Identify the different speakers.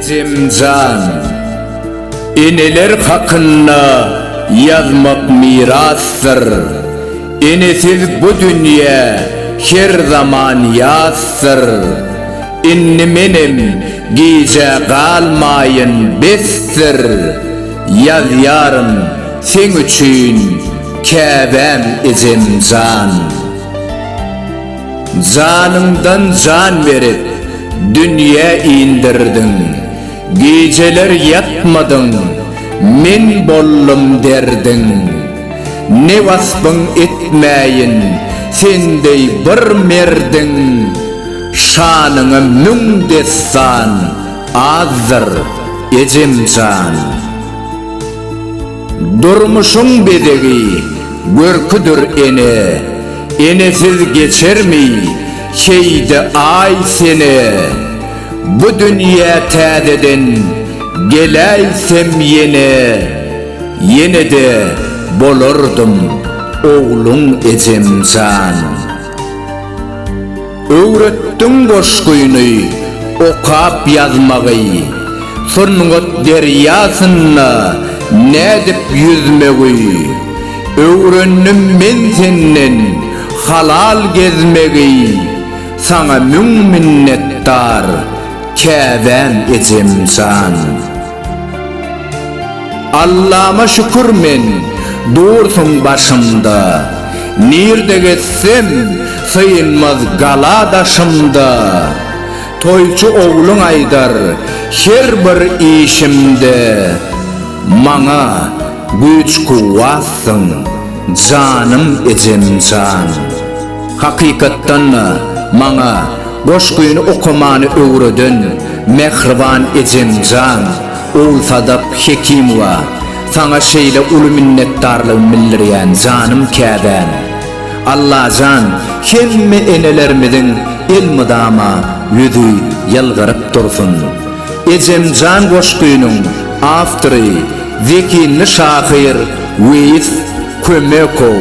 Speaker 1: Ejemjan, eneler hakynda ýazmak mirasdyr. Enesiz bu dünýe her zaman ýasdyr. Indi menem gijä galmaýyn besdir. Ýazýaryn Seň üçin Käbäm ejem jan. Janyňdan jan berip dünýä indirdiň, Gijeler ýatmadyň, men boldum derdiň. Ne waspyň etmäýin sen deý bir merdiň, Şanyňa müň dessan azdyr ejem jan. Durmuşyň bezegi, görküdir ene, Enesiz geçermi, heý-de aý sene? Bu dünýä täzeden geläýsem ýene, Ýene-de bolardym ogluň ejem jan. Öwretdiň goşgyny okap ýazmagy, Sungat derýasynda nädip ýüzmegi. Öwrendim men senden halal gezmegi, Saňa müň minnetdar Käbäm ejem jan. Allama şükür men dursun başymda Nirde gezsem synmaz gala daşymda Toýçy ogluň aýdar her bir işimde Maňa güýç kuwwatsyň janym ejemjan Hakykatdanda maňa Goşgyny okamany öwreden mähriban ejemjan Ogulsadap Hekimowa saňa şeýle uly minnetdarlygymy bildirýän janym käbäm. Allajan hemme enelerimiziň elmydama ýüzi ýylgyryp dursun. Ejemjan goşgynyň awtory zehinli şahyr Weýis Kömekow.